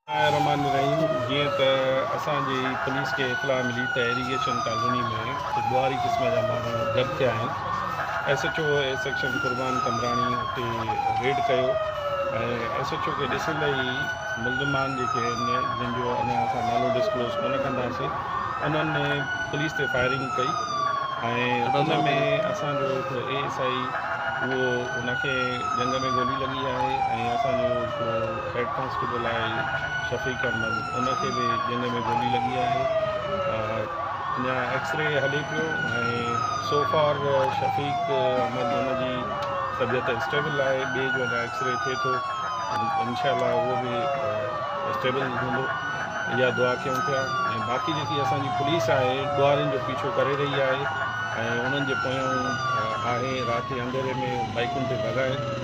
بسم الله الرحمٰن الرحيم جيئن ته اسان جي پوليس کي اطلاع ملي ته ايريگيشن ڪالوني ۾ ڪجهه ٻهاري قسم جا ماڻهو گڏ ٿيا آهن ايس ايڇ او اي سيڪشن قربان قمبراڻي اتي ريڊ ڪيو ۽ ايس ايڇ او کي ڏسندي ئي ملزمان جيڪي آهن جن جو اڃا اسان نالو ڊسڪلوز ڪونه ڪنداسين انهن پوليس تي فائرنگ ڪئي ۽ ان ۾ اسان جو هڪڙو اي ايس آئي اهو ان کي ڄنگهه ۾ گولي لڳي آهي ۽ اسان جو هڪڙو هيڊ ڪانسٽيبل آء جي شفيق احمد ان کي به ڄنگهه ۾ گولي لڳي آهي اڃا ايڪس ري هلي پيو ۽ سو فار شفيق احمد ان جي طبيعت اسٽيبل آهي ٻئي جو اڃا ايڪس ري ٿئي ٿو انشاء الله اهو به اسٽيبل هوندو اها دعا ڪيون پيا ۽ باقي جيڪي اسانجي پوليس آهي ڏوارين جو پيڇو ڪري رهي آهي ۽ انهن جي پويان آهي رات جي انڌيري ۾ بائيڪن تي ڀڳائي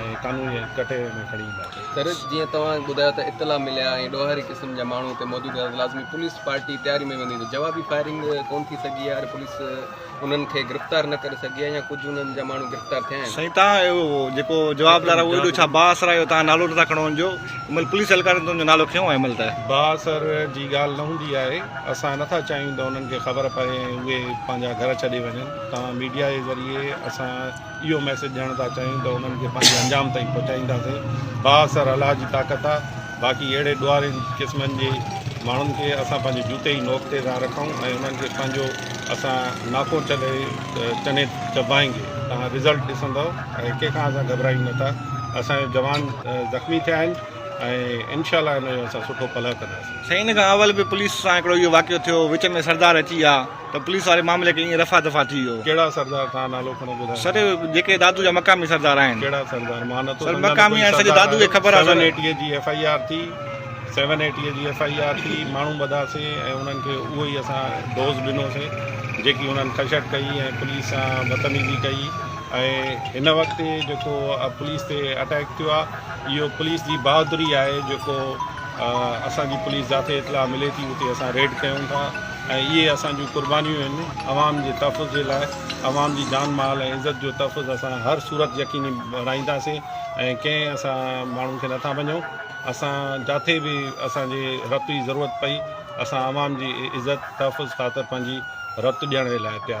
۽ قانوني ڪٽهڙي ۾ کڻي اينداسين. ترس جيئن توهان کي ٻڌايو ته اطلاع مليا ۽ ڏوهاري قسم جا ماڻهو اتي موجود هيا ته لازمي پوليس پارٽي تياري ۾ ويندي ته جوابي فائرنگ ڪون ٿي سگهي يا پوليس انهن کي گرفتار نه ڪري سگهي ها يا ڪجهه انهن جا ماڻهو گرفتار ٿيا آهن. سائين توهان اهو جيڪو جوابدار آهي اهو ايڏو ڇا بااثر آهي جو توهان نالو نٿا کڻو ان جو ان مهل پوليس اهلڪارن تنهنجو نالو کنيو آهي ان مهل ته. بااثر جي ڳالهه نه هوندي آهي اسان نٿا چاهيون ته انهن کي خبر پئي ۽ اهي پنهنجا گهر ڇڏي وڃن توهان ميڊيا جي ذريعي اسان اهو ميسيج ڏيڻ ٿا چاهيون ته انهن کي پنهنجي انجام تائين پهچائينداسين بااثر الله جي طاقت آ باقي اهڙي ڏوهارين قسمن جي ماڻهن کي اسان پنهنجي جوتي جي نوڪ تي ٿا رکون ۽ انهن کي پنهنجو اسان ناڪو چلي چني چبائينگي توهان رزلٽ ڏسندؤ ۽ ڪنهن کان اسان گهٻرايون نه ٿا اسان جو جوان زخمي ٿيا آهن ۽ انشاء الله ان جو اسان سٺو پلئه ڪنداسين سائين ان کان اول به پوليس سان هڪڙو اهو واقعو ٿيو وچ ۾ سردار اچي ويا ته پوليس واري معاملي کي ائين رفع دفع ٿي ويو. ڪهڙا سردار تان نالو کڻو ٻڌايو. سر جيڪي دادو جا مقامي سردار آهن. ڪهڙا سردار مان نٿو سمجهان ته ڪوئي سردار آهيو سيون ايٽيء جي ايف آئي آر ٿي سيون ايٽيء جي ايف آئي آر ٿي ماڻهو ٻڌا سي ۽ انهن کي اهو ئي اسان ڊوز ڏنو سي جيڪي انهن خشٽ ڪئي ۽ پوليس سان بتميزي ڪئي ۽ هن وقت جيڪو پوليس تي اٽيڪ ٿيو آ اهو پوليس جي بهادري آهي جيڪو اسان جي پوليس جاٿي اطلاع ملي ٿي اتي اسان ريڊ ڪيون ٿا. ۽ اهي اسان جون قربانيون آهن، عوام جي تحفظ جي لاء عوام جي جان مال ۽ عزت جو تحفظ اسان هر صورت يقيني بڻائينداسين ۽ ڪنهن اسان ماڻهن کي نٿا مڃون، اسان جاٿي به اسان جي رت جي ضرورت پئي اسان عوام جي عزت تحفظ خاطر پنهنجي رت ڏيڻ جي لاء تيار آهيون.